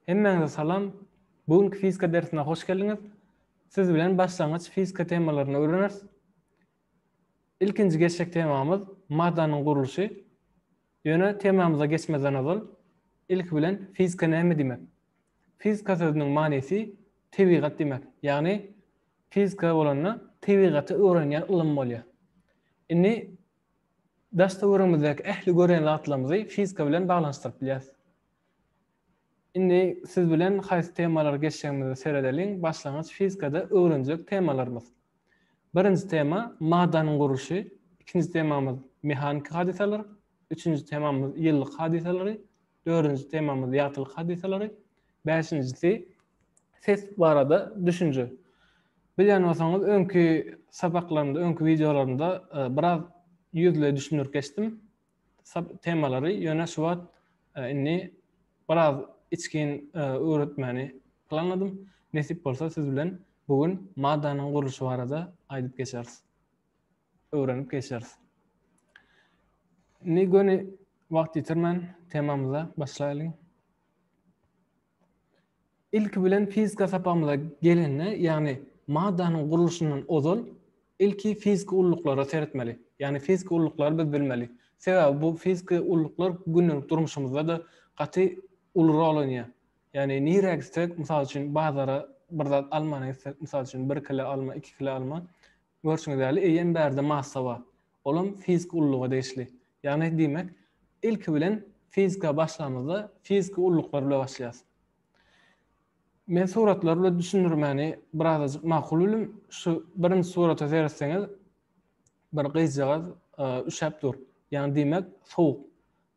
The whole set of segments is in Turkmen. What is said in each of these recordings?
Hemmäňize salam! Bu günki fizika dersine hoş geldiňiz. Siz bilen başlangyç fizika temalaryny öwreneris. Ilkinji geçjek temamyz maddanyň gurluşy. Ýöne temamyza geçmezden ozal, ilki bilen fizika näme diýmek? Fizika sözüniň manysy tebigat diýmek. Ýagny fizika bolanda tebigaty öwrenýän ylym bolýar. Indi Daş-töweregimizdäki ähli gören zatlarymyzy fizika bilen baglanyşdyryp bilýäris. Indi siz bilen haýsy temalary geçjegimize seredeliň, başlangyç fizikada öwrenjek temalarymyz. Birinji tema, maddanyň gurluşy, ikinji temamyz, mehaniki hadysalar, üçünji temamyz, ýyllyk hadysalary, Dördünji temamyz ýagtylyk hadysalary. Bäşinjisi ses barada düşünje. Bilýän bolsaňyz, öňki sapaklarymda, öňki wideolarymda e, biraz ýüzle düşündirip geçdim temalary. Ýöne şu wagt e, indi biraz içgin e, öwretmäni planladym. Nesip bolsa siz bilen bugün madanyň gurluşy barada aýdyp geçeris. öwrenip geçeris. Indi göni wagt ýitirmän temamyza başlaýlyň. Ilki bilen fizika sapagymyza gelende, ýagny maddanyň gurluşyndan ozal ilki fiziki ulluklara seretmeli. Ýagny fiziki ulluklary biz bilmeli. Sebäbi bu fiziki ulluklar gündelik durmuşymyzda-da gaty uly rol oýnaýar. Ýagny nirä gitsek, mysal üçin bazara bir zat almana gitsek, mysal üçin bir kile alma, iki kile alma, Görşüňiz ýaly, eýýäm bärde massa bar. Olam fiziki ulluga degişli. Ýagny diýmek, ilki bilen fizika başlamyzda fiziki ulluklar bile başlaýas. Men suratlar bile düşündirmäni birazajyk makul bildim. Şu birinji surata seretseňiz, bir gyzjagaz üşäp dur. Ýagny diýmek, sowuk.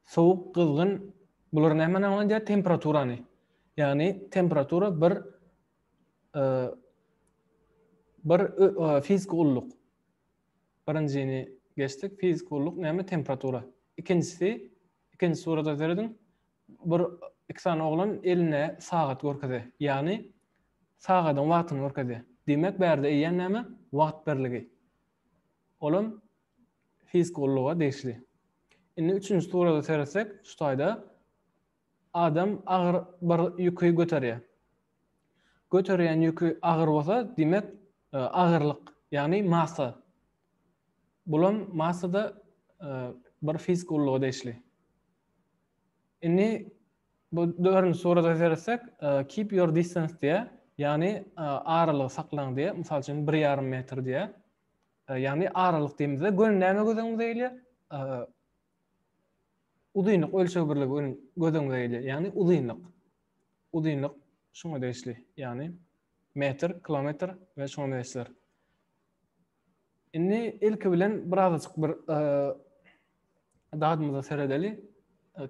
Sowuk, gyzgyn, bular nämeni aňladýar? Temperaturany. Ýagny temperatura bir bir fiziki ulluk. Birinjini geçdik. Fiziki ulluk näme? Temperatura. Ikinjisi, ikinji surata serediň. Bir iki sany oglan eline sagat görkezi. Ýagny sagadyň wagtyny görkezi. Diýmek, bärde eýýän näme? Wagt birligi. Olam fiziki ulluga degişli. Indi üçünji surata seretsek, şu taýda Adam agyr bir ýüki göterýär. Göterýän ýüki agyr bolsa, diýmek, agyrlyk, ýagny massa. Bulam massa-da bir fiziki ulluga degişli. Indi bu dördünji surata seretsek, keep your distance diýýär, ýagny aralygy saklaň diýýär, mysal üçin, bir ýarym metr diýýär. Ýagny aralyk diýmizde göni näme göz öňümize gelýär? Uzynlyk ölçeg birligi öň göz öňüňize gelýär. Ýagny uzynlyk. Uzynlyk şuňa degişli. Ýagny metr, kilometr we şuňa meňzeşler. Indi ilki bilen birazajyk bir dadymyza seredeli,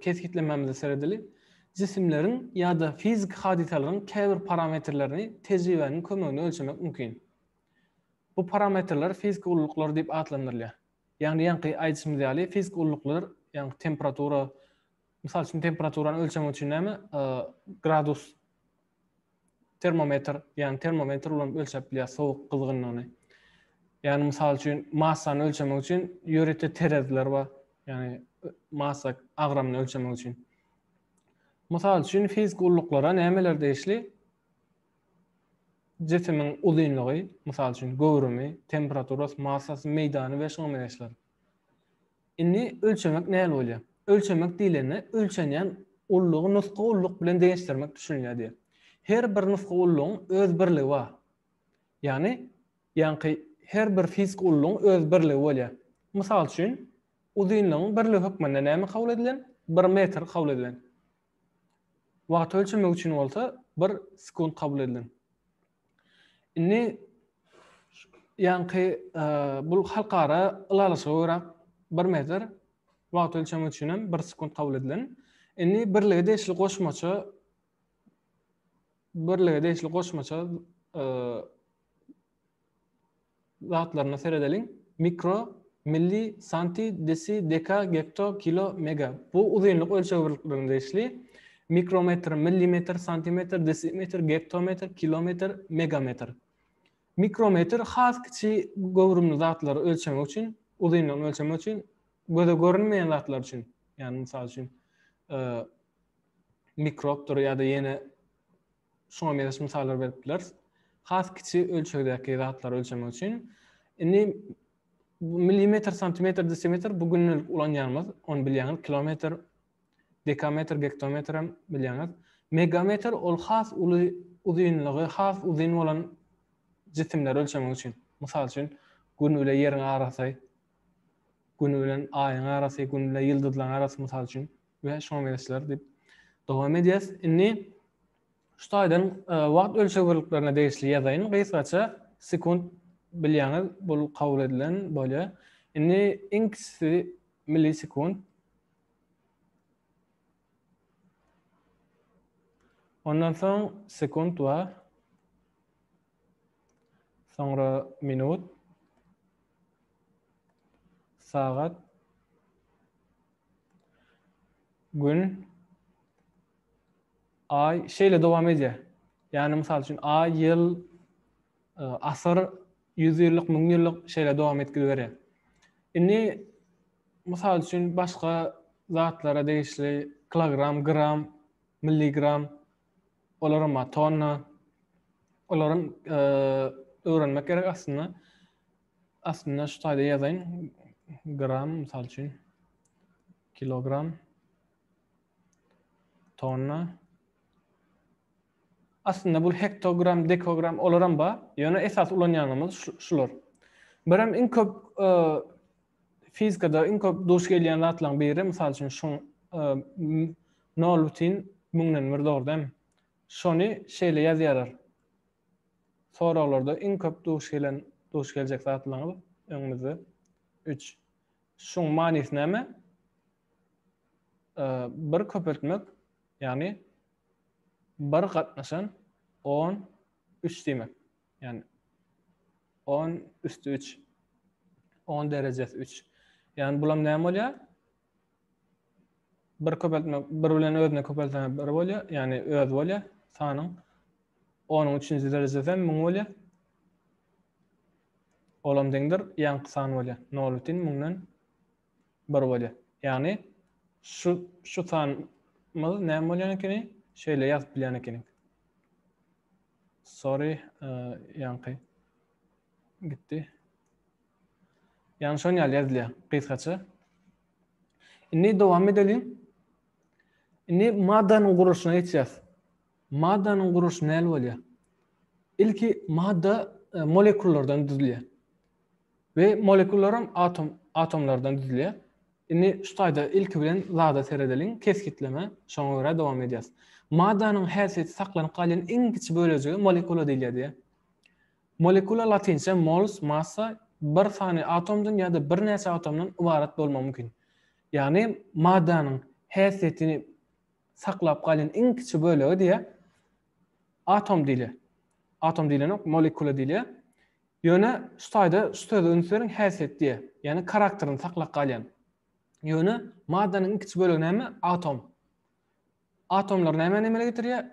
kesgitlemämize seredeli. Jisimleriň ýa-da fiziki hadysalaryň käbir parametrlerini tejribäniň kömeginde ölçemek mümkin. Bu parametrler fiziki ululyklar diýip atlandyrylýar. Ýagny ýaňky aýdyşymyz ýaly fizik ulluklar ýaňky temperatura mysal üçin temperaturany ölçemek üçin näme gradus termometr ýagny termometr bilen ölçäp bilýär sowuk gyzgynlygyny. Ýagny mysal üçin massany ölçemek üçin ýörite tereziler bar. Ýagny massa agramyny ölçemek üçin. Mysal üçin fizik ulluklara nämeler degişli? Jisimiň uzynlygy, mysal üçin, göwrümi, temperaturasy, massasy, meýdany we şuňa meňzeşler. Indi ölçemek nähili bolýar? Ölçemek diýlende ölçenýän ullugy nusga ulluk bilen deňeşdirmek düşünilýär diýer. Her bir nusga ullugyň öz birligi bar. Ýagny, ýaňky her bir fiziki ullugyň öz birligi bolýar. Mysal üçin, uzynlygyň birligi hökmünde näme kabul edilen? Bir metr kabul edilen. Wagty ölçemek üçin bolsa bir sekunt kabul edilen. Indi ýaňky bu halkara ylalaşyga görä bir metr wagt ölçemek üçin hem bir sekunt kabul edilen. Indi birlige degişli goşmaça birlige degişli goşmaça zatlaryna seredeliň. Mikro, milli, santi, desi, deka, gekto, kilo, mega. Bu uzynlyk ölçeg birliklerine degişli. Mikrometr, millimetr, santimetr, desimetr, gektometr, kilometr, megametr. Mikrometr has kiçi göwrümli zatlary ölçemek üçin, uzynlygyny ölçemek üçin, göze görünmeýän zatlar üçin, ýagny mysal üçin, e, mikrobdyr ýa-da ýene Şuňa meňzeş mysallar berip bileris. Has kiçi ölçegdäki zatlary ölçemek üçin. Indi millimetr, santimetr, desimetr bu günlük ulanýanymyz, ony bilýäňiz, kilometr, dekametr, gektometr hem bilýäňiz. Megametr ol has uly uzynlygy, has uzyn bolan jisimleri ölçemek üçin. Mysal üçin, gün bilen ýeriň arasy, gün bilen aýyň arasy, gün bilen ýyldyzlaryň arasy mysal üçin. we şoňa meňzeşler diýip dowam edýäs. Indi şu taýdan e, wagt ölçeg birliklerine degişli ýazaýyn. Gysgaça sekunt bilýäňiz, bu kabul edilen bolýar. Indi iň kiçisi millisekund. Ondan soň sekunt bar. Soňra minut. Sagat. Gün, aý şeýle dowam edýär. Ýagny mysal üçin aý, ýyl, e, asyr, ýüzýyllyk, müňýyllyk şeýle dowam edip gidiberýär. Indi mysal üçin başga zatlara degişli kilogram, gram, milligram, olar hem tonna, olar hem e, öwrenmek gerek aslynda. Aslynda şu taýda ýazaýyn. Gram, mysal üçin. Kilogram. Tonna. Aslynda bu hektogram, dekogram olaram ba, ýöne esas ulanýanymyz şular. Birem iň köp e, fizikada iň köp duş gelýän zatlaryň biri, mysal üçin şu 0 e, müňden bir dogrudan. Şony şeýle ýazýarlar. Soraglarda iň köp duş gelen, duş geljek zatlaryňyz öňümizde. Üç. Şuň manysy näme? Bir köpeltmek, ýagny bir gatnaşan on üç diýmek. Ýagny on üstü üç. On derejesi üç. Ýagny bulam näme bolýar? bir köpeltme bir bilen özüne köpeltme bir bolýar, ýagny öz bolýar sanyň. Onuň üçünji derejesi hem 1000 bolýar. Ol hem deňdir ýaňky san bolýar. 0 bitin 1000-den 1 bolýar. Ýagny şu şu sanymyz näme bolýan ekeni? Şeýle ýazyp bilýän ekeniň. Sorry, e, ýaňky gitdi. Ýagny şon ýaly ýazylýar gysgaça. Indi dowam edeliň. Indi maddanyň gurluşyna geçýäs. Maddanyň gurluşy näl bolýar? Ilki madda e, molekullardan düzülýär. Ve molekullar hem atom, atomlardan düzülýär. Indi şu taýda ilki bilen zada seredeliň, kesgitleme, şoňa görä dowam edýäs. Maddanyň häsiýeti saklanyp galýan iň kiçi bölejige molekula diýilýär diýýär. Molekula latynça mols, massa, bir sany atomdan ýa-da birnäçe atomdan ybarat bolmagy mümkin. Ýagny maddanyň häsiýetini saklap galýan iň kiçi bölege diýe atom diýilýär. Atom diýlenok, molekula diýilýär. Ýöne şu taýda şu söze üns beriň häsiýet diýe. Ýagny karakterini saklap galýan. Ýöne maddanyň iň kiçi bölegi näme? Atom. Atomlar nämä emele getirýär?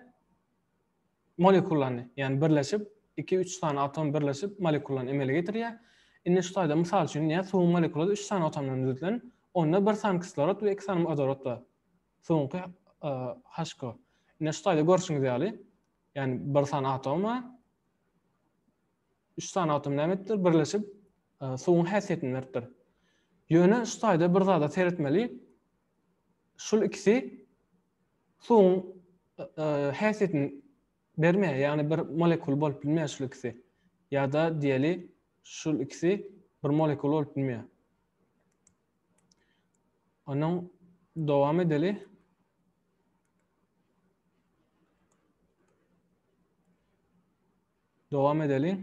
molekulany, ýagny birleşip, iki-üç sany atom birleşip, molekulany emele getirýär. Indi şu taýda mysal üçin diýýän, suwuň molekulady üç sany atomdan düzülen, onda bir sany kislorod we iki sany wodorod bar. Suwuňky HCO. Indi şu taýda görşüňiz ýaly, ýagny bir sany atom bar. Üç sany atom näme etdir? Birleşip, suwuň häsiýetini beripdir. Ýöne şu taýda bir zada seretmeli, şul ikisi suwuň häsiýetini bermeýär, ýagny bir molekul bolup bilmeýär şul ikisi. Ýa-da diýeli, şul ikisi bir molekul bolup bilmeýär. Onuň dowam edeli. Dowam edeliň.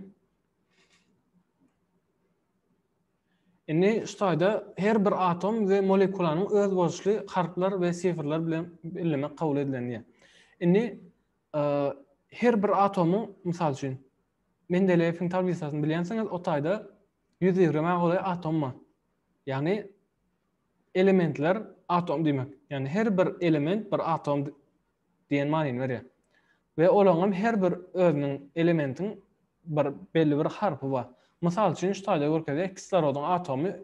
Indi şu taýda her bir atom we molekulanyň özboluşly harplar we sifrler bilen bellemek kabul edilen diýýär. Indi e, her bir atomyň mysal üçin Mendeleýewiň tablisasyny bilýänsiňiz, o taýda 120 golaý atom bar. Ýagny elementler atom diýmek. Ýagny her bir element bir atom diýen manyny berýär. We olaňam her bir özüniň elementiň bir belli bir harpy bar. Mysal üçin şu taýda görkezýär kislorodyn atomy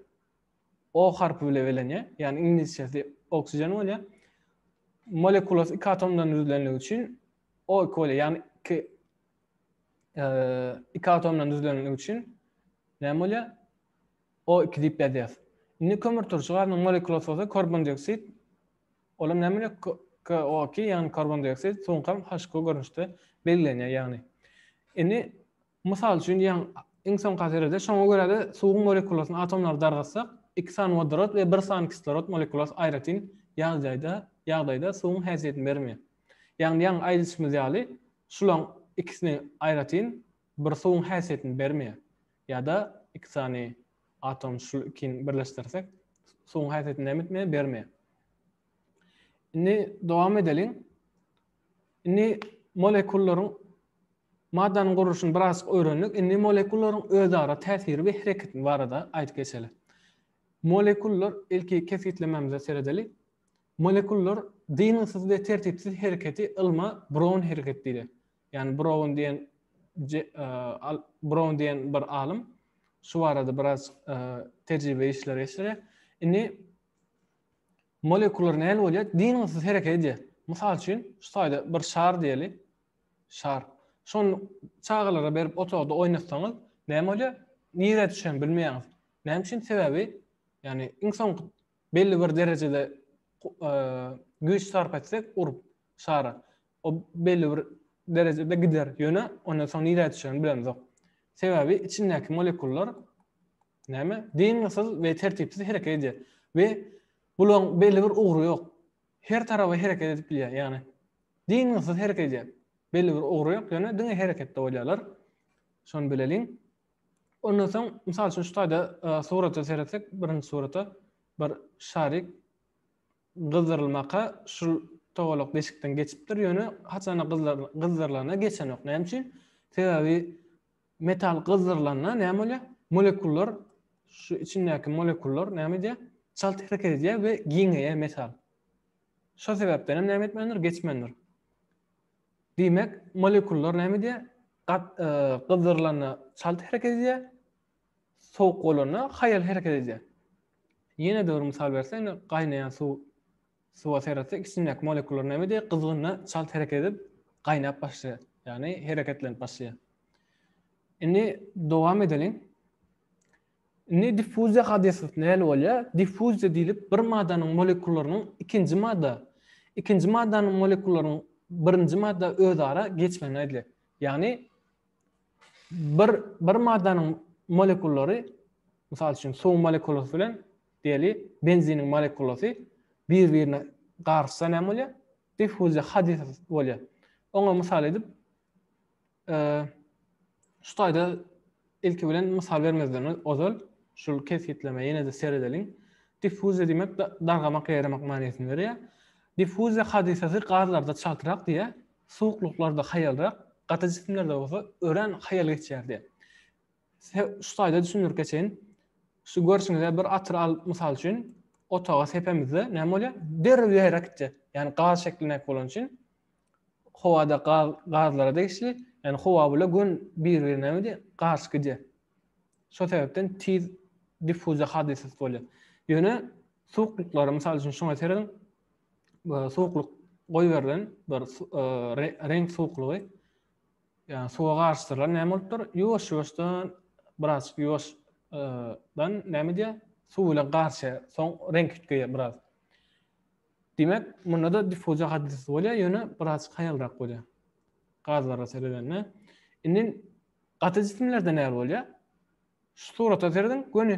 O harpy bile belenýär, ýagny iňlisçesi oxygen bolýar. Molekulasy iki atomdan düzülenligi üçin O iki bolýar, ýagny iki iki atomdan düzülenligi üçin näme bolýar? O iki diýip ýazýar. Indi kömürturşy gazynyň molekulasy bolsa karbondioksid Olam näme bilen KOki ýagny karbon dioksid sunkam HQ görnüşde belgilenýär ýagny. Indi mysal üçin diýýän iň soňky haserede şoňa görä-de suwuň molekulasyny atomlary dargatsak iki sany wodorod we bir sany kislorod molekulasy aýratyn ýagdaýda ýagdaýda suwuň häsiýetini bermeýär. Ýagny ýaňy aýdyşymyz ýaly şulaň ikisini aýratyn bir suwuň häsiýetini bermeýär. Ýa-da iki sany atom şul ikini birleşdirsek, suwuň häsiýeti näme bermeýär. Indi dowam edeliň. Indi molekullaryň maddanyň gurluşyny biraz öwrendik. Indi molekullaryň özara täsiri we hereketi barada aýdyp geçeli. Molekullar ilki kesgitlememize seredeli. Molekullar dyngysyz we tertipsiz hereketi ylma Brown hereketi diýilýär. Ýani Brown diýen Brown diýen bir alym şu barada biraz tejribe işleri geçirýär. Indi molekular näme bolýar? Dyngysyz hereket edýär. Mysal üçin, şu taýda bir şar diýeli. Şar. Şony çagalara berip otagda oýnatsaňyz, näme bolýar? Nirä düşen bilmeýäňiz. Näme üçin? Sebäbi, ýani iň soňky belli bir derejede güýç sarp etsek urup şara o belli bir derejede gider ýöne ondan soň nirä düşerini bilemizok sebäbi içindäki molekullar näme dyngysyz we tertipsiz hereket edýär we bulaň belli bir ugry ýok her taraba hereket edip bilýär ýagny dyngysyz hereket edýär belli bir ugry ýok ýöne diňe hereketde bolýarlar şony bileliň Ondan soň, mysal üçin, şu taýda surata seretsek, birinji surata, bir şarik gyzdyrylmaka şul togalak deşikden geçipdir, ýöne haçan-da gyzdyrylanda geçenok. Näme üçin? Sebäbi metal gyzdyrylanda näme bolýar? Molekullar, şu içindäki molekullar näme edýär? Çalt hereket edýär we giňeýär metal. Şol sebäpden hem näme etmändir? Geçmändir. Diýmek, molekullar näme edýär? Gyzzyrylanda çalt hereket edýär, sowuk bolanda haýal hereket edýär. Ýene-de bir mysal bersek, indi gaýnaýan suw suwa seretsek, içindäki molekullar näme edýär? Gyzgynda çalt hereket edip, gaýnap başlaýar. Ýagny hereketlenip başlaýar. Indi dowam edeliň. Indi diffuziýa hadysasyny näl bolýar? Diffuziýa diýlip bir maddanyň molekullarynyň ikinji madda, ikinji maddanyň molekullarynyň birinji madda özara geçmegine aýdylýar. Ýagny bir bir maddanyň molekullary mysal üçin suwuň molekulasy bilen diýeli benziniň molekulasy bir-birine garyşsa näme bolýar? Diffuziýa hadysasy bolýar. Oňa mysal edip Şu taýda ilki bilen mysal bermezden ozal şul kesgitlemä ýene-de seredeliň. Diffuziýa diýmek dargamak, ýaýramak manysyny berýär. Diffuziýa hadysasy gazlarda çaltrak diýýär, suwuklyklarda haýalrak, gaty jisimlerde bolsa örän haýal geçýär diýýär. Size şu taýda düşündirip geçeýin. Şu görşüňizde bir atyr al, mysal üçin, otaga sepemizde näme bolýar? Derrew ýaýrap gitýär. Ýagny gaz şeklindäki bolany üçin Howada gaz gazlara degişli, ýagny howa bile gün bir-birine garşy gidýär. Şo sebäpden tiz diffuziýa hadysasy bolýar. Ýöne suwuklyklary, mysal üçin, şuňa serediň, suwuklyk goýberilen bir reňk suwuklygy, ýagny suwa garyşdyrylan näme bolup dur, ýuwaş-ýuwaşdan biraz ýuwaş dan näme edýär, suw bilen garyşýar, soň reňk üýtgeýär biraz. Diýmek, munda-da diffuziýa hadysasy bolýar, ýöne biraz haýalrak bolýar. Gazlara seredende. Indi gaty jisimlerde näme bolýar? Şu surata serediň, göni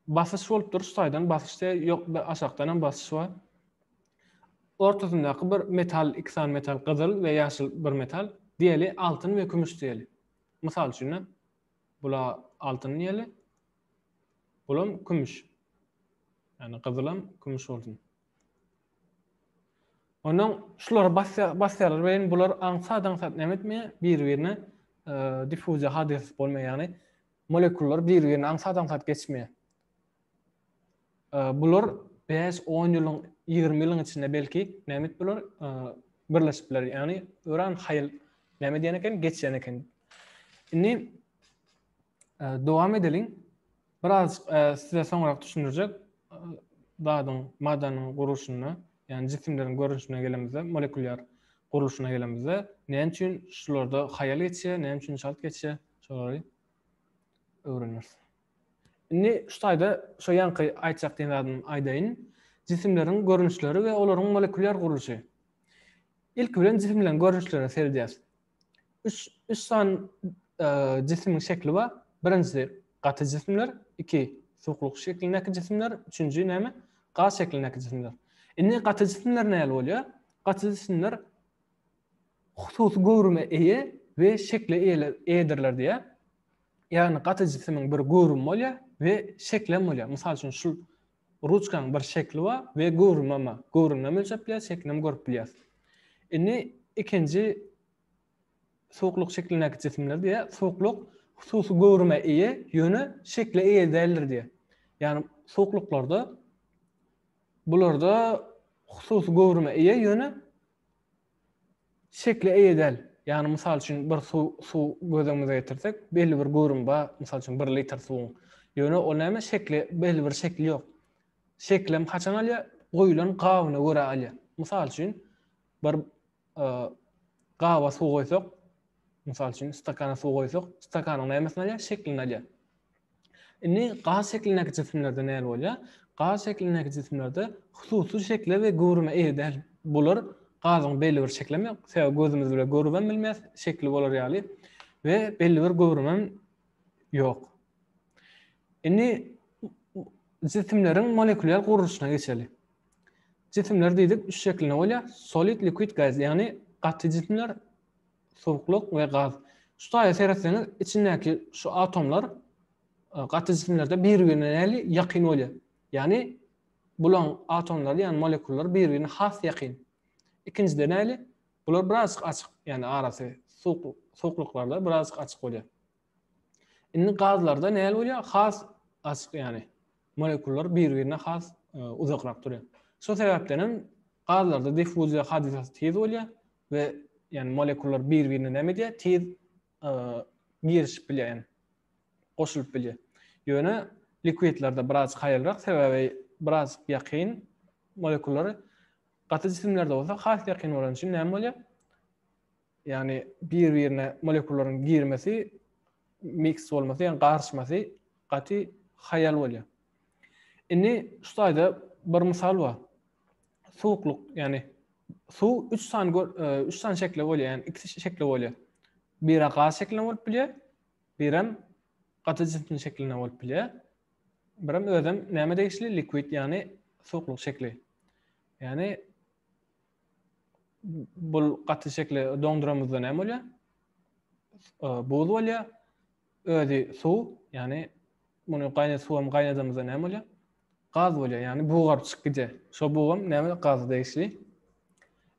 basyş bolup dur, saýdan basyş diýär, ýok, aşakdan hem basyş bar. Ortasyndaky bir metal, iki sany metal, gyzyl we ýaşyl bir metal, diýeli altyn we kümüş diýeli. Mysal üçin, bula altyn diýeli, Bulam kümüş. Ýani gyzylam kümüş bolsun. Ondan şulary basýarlar we bular aňsat-aňsat näme etmeýär? Bir-birine e, diffuziýa hadysasy bolmaýar. Ýagny molekullar bir-birine aňsat-aňsat geçmeýär. E, bular 5-10 ýylyň, 20 ýylyň içinde belki näme et bular? E, birleşip biler. Ýagny öran haýyl näme diýen eken? Geçýän eken. Indi Dowam edeliň. Biraz size soňrak düşündirjek zadyň, maddanyň gurluşyna, ýagny jisimleriň görnüşine gelemizde, molekulýar gurluşyna gelemizde, näme üçin şularda haýal geçýär, näme üçin çalt geçýär, şolary öwreneris. Indi şu taýda şu ýanky aýtjak diýen zadymy aýdaýyn. Jisimleriň görnüşleri we olaryň molekulýar gurluşy. Ilki bilen jisimleriň görnüşlerine seredýäris. Üç, üç sany jisimiň şekli bar. Birinjisi gaty jisimler, iki suwukluk şeklindäki jisimler, üçünji näme? Gaz şeklindäki jisimler. Indi gaty jisimler näle bolýar? Gaty jisimler hususy göwrüme eýe we şekle eýedirler diýýär. Ýagny gaty jisimiň bir göwrümi bolýar we şekli hem bolýar. Mysal üçin şu Ruçkaň bir şekli bar we göwrümem bar. Göwrüminem ölçäp bilýäs, şeklinem görüp bilýäs. Indi ikinji suwuklyk şeklindäki jisimler diýýär, suwuklyk hususy göwrüme eýe, ýöne şekle eýe däldir diýýär. Ýagny suwuklyklarda bularda hususy göwrüme eýe, ýöne şekle eýe däl. Ýagny, mysal üçin, bir suw, suw göz öňümize getirsek, belli bir göwrümi bar, mysal üçin, bir litr suwuň. Ýöne ol näme, şekli, belli bir şekli ýok. Şeklem haçan alýar? Goýulan gabyna görä alýar. Mysal üçin, bir gaba suw goýsak, mysal üçin, stakana suw goýsak, stakanyň nämesini alýar? Şeklini alýar. Indi gaz şeklindäki jisimlerde näme bolýar? Gaz şeklindäki jisimlerde hususy şekle we göwrüme eýe däl. Bular gazyň belli bir şekilem ýok. Sebäbi gözümiz bilen görübem bilmeýäs şekli bolar ýaly we belli bir göwrümem ýok. Indi jisimleriň molekulyar gurluşyna geçeli. Jisimler diýdik üç şekilde bolýar. Solid, liquid, gaz, ýagny gaty jisimler, suwuklyk we gaz. Şu taýa seretseňiz, içindäki şu atomlar e, gaty jisimlerde bir-birine näli ýakyn bolýar. Ýagny bulaň atomlary, ýagny molekullar bir-birine has ýakyn. Ikinjide näli? Bular biraz açyk, ýagny arasy suwuk suwuklyklarda biraz açyk bolýar. Indi gazlarda näli bolýar? Has açyk ýagny molekullar bir-birine has e, uzakrak durýar. Şu sebäpden hem gazlarda diffuziýa hadysasy tiz bolýar, we yani molekullar bir birine näme diýýär tiz girişip bilýär yani goşulyp bilýär ýöne likwidlerde biraz haýalrak sebäbi biraz ýakyn molekullar gaty jisimlerde bolsa has ýakyn bolan üçin näme bolýar yani bir birine molekullaryň girmesi mix bolmasy yani garyşmasy gaty haýal bolýar indi şu taýda bir mysal bar suwuklyk, ýagny suw üç sany e, üç sany şekli bolýar, ýagny iki şekli bolýar. Biri gaz şeklinde bolup bilýär, birem gaty jisimli şeklinde bolup bilýär. Birem özem näme degişli liquid, ýagny suwuklyk şekli. Ýagny bul gaty şekli doňduramyzda näme bolýar? E, buz bolýar. Özi suw, ýagny muny gaýnat suwam gaýnadamyzda näme bolýar? Gaz bolýar, ýagny bugaryp çykyp gidýär. Şo bugam näme gaza degişli.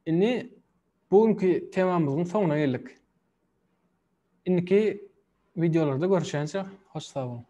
Indi bu günki temamyzyň soňuna geldik. Indiki wideolarda görüşýänçä hoş sag boluň.